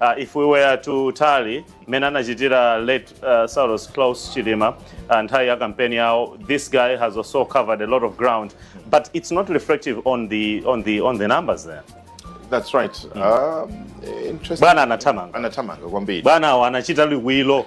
Uh, if we were to tally mmene anachitira late uh, Saulos Klaus Chilima uh, nthawi ya kampeni yawo, this guy has also covered a lot of ground but it's not reflective on the, on the, on the numbers there That's right. Mm. Um, interesting. Bwana anatamanga. Anatamanga kwambiri. Bwana anachita liwilo.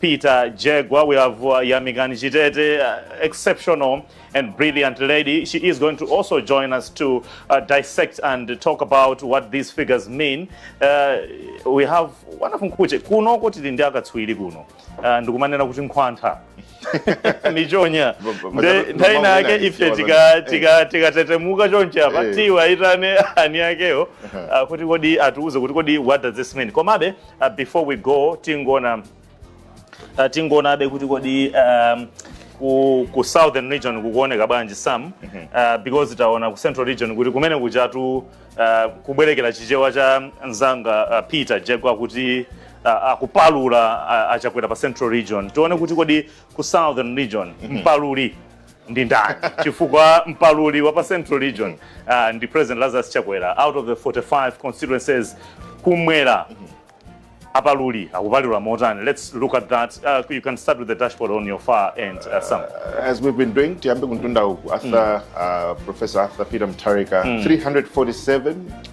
Peter Jegwa, we have uh, Yamikani Chitete, uh, exceptional and brilliant lady. She is going to also join us to uh, dissect and talk about what these figures mean. Uh, we have one of Mkuche, kuno kuti ndi akatswiri kuno, uh, ndikumanena kuti nkhwantha. michonya Ba- ba- ba- Nde- ba- nthawi ba- nake ba- ife ba- tika- eh. tika- tikatetemuka chonche apa Eh. tiwa itane ani akewo ah, kuti kodi atiuze kuti kodi what does this mean komabe Uh, before we go tingoona uh, tingoonabe kuti kodi um, ku, ku southern region kukuoneka bwanji sam mm -hmm. uh, because taona ku central region kuti kumenekujatu uh, kubwerekera chichewa cha mnzanga uh, peter jegwa kuti uh, akupalula uh, achakwera pa central region tione kuti kodi ku southern region mm -hmm. mpaluli ndi ndani chifukwa mpaluli wa pa central region uh, ndi president lazarus chakwera out of the 45 constituencies kumwera apaluli akupalula motani let's look at that uh, you can start with the dashboard on your far end uh, sam as we've been doing tiyambe kuntunda uku arthur uh, professor arthur peter mutharika 347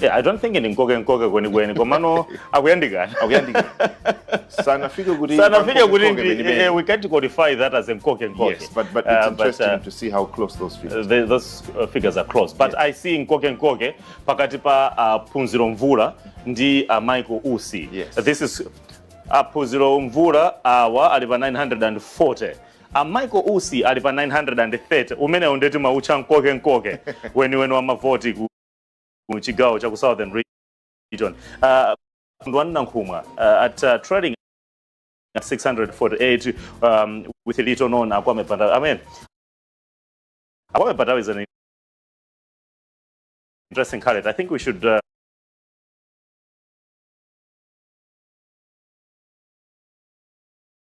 Yeah, I don't think ni nkoke nkoke kweni kweni komano akuyandikana akuyandikana sanafike kuti sanafike kuti uh, we can't qualify that as nkoke nkoke yes but but it's uh, interesting but, uh, to see how close those figures the, those uh, figures are close but yes. i see nkoke nkoke pakati pa uh, phunziro mvula ndi uh, michael usi yes. this is aphunziro uh, mvula awa ali pa 940 A Michael Usi ali pa 930 umenewu nde timautcha mkoke mkoke weniweni wa mavoti ku ku chigawo cha ku Southern Region. Uh, Kondwani Nankhumwa uh, at uh, trailing at 648 um, with little known Akwame Bandawe. I mean, Akwame Bandawe is an interesting candidate. I think we should uh,